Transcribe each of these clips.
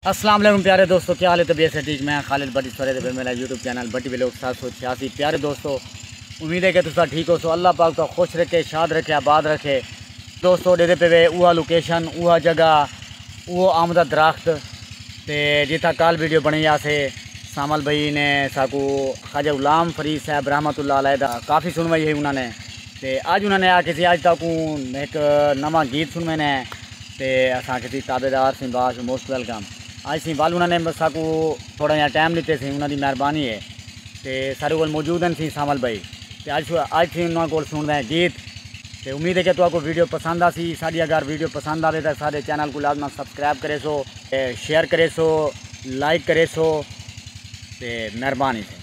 السلام علیکم پیارے دوستو کیا حال ہے طبیعت سے ٹھیک میں خالد بٹی سورے دے میرا یوٹیوب چینل بٹی ویلوگ سات سو چھیاسی پیارے دوستو امید ہے کہ تسا ٹھیک ہو سو اللہ پاک تو خوش رکھے شاد رکھے آباد رکھے دوستو ڈے دے پہ وے اوہ لوکیشن اوہ جگہ اوہ آمدہ درخت تے جتھا کال ویڈیو بنے یا سے سامل بھائی نے ساکو خاجہ غلام فرید صاحب رحمت اللہ علیہ دا کافی سنوائی ہے انہوں نے تے آج انہوں نے آکے سی آج تاکو ایک نمہ گیت سنوے نے تے اساں کیتی تابع دار سیں باش موسٹ ویلکم آئی سیں ول انہاں نے ساکو تھوڑا جیاں ٹائم لیتے سیں انہاں دی مہربانی ہے تے سارے کول موجود ہیں سیں سانول بھائی تے اج اج سیں انہاں کول سنڑ دے گیت تے امید ہے کہ تہاں کو ویڈیو پسند آسی ساڈی اگر ویڈیو پسند آوے تے ساڈے چینل کو لازما سبسکرائب کریسو شیئر کریسو لائک کریسو تے مہربانی سیں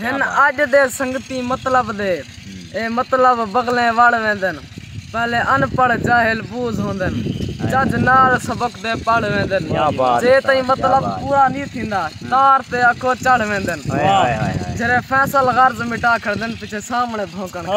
ہن اڄ دے سنگتی مطلب دے اے مطلب بغلیں وڑ ویندن پہلے ان پڑھ جاہل بوز ہوندن چج نال سبق دے پڑھ ویندن جے تئیں مطلب پورا نی تھیندا تار تے اکو چڑھ ویندن جھرے فیصل غرض مٹا کھڑدن پچھے سامنے بھونکن کھڑدن۔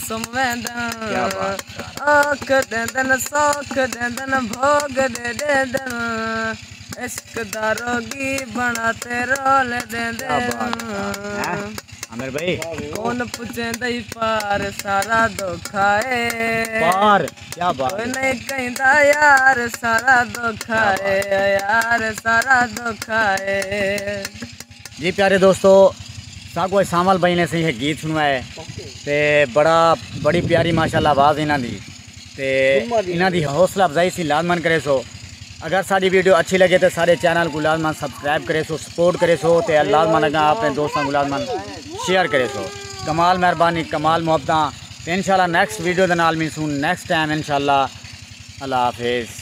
سم ویندن آکھ ڈیندن سوکھ ڈیندن بھوگ ڈے ڈیندن عشق دا روگی بنا تے رول ڈیندن کون پوچھیں دئی پار سارا دکھا ہے کوئی نہیں کہیں دا یار سارا دکھا ہے یار سارا دکھا ہے جی پیارے دوستو ساں کو سامل بھائی نے سہی گیت سنوائے تے بڑا بڑی پیاری ماشاءاللہ آواز انہاں دی تے انہاں دی حوصلہ افزائی سی لازمن کرے سو اگر ساری ویڈیو اچھی لگے تے سارے چینل کو لازمن سبسکرائب کرے سو سپورٹ کرے سو تے لازمن اگا اپنے دوستاں کو لازمن شیئر کرے سو کمال مہربانی کمال محبتاں تے انشاءاللہ نیکسٹ ویڈیو دے نال ملسوں نیکسٹ ٹائم انشاءاللہ اللہ حافظ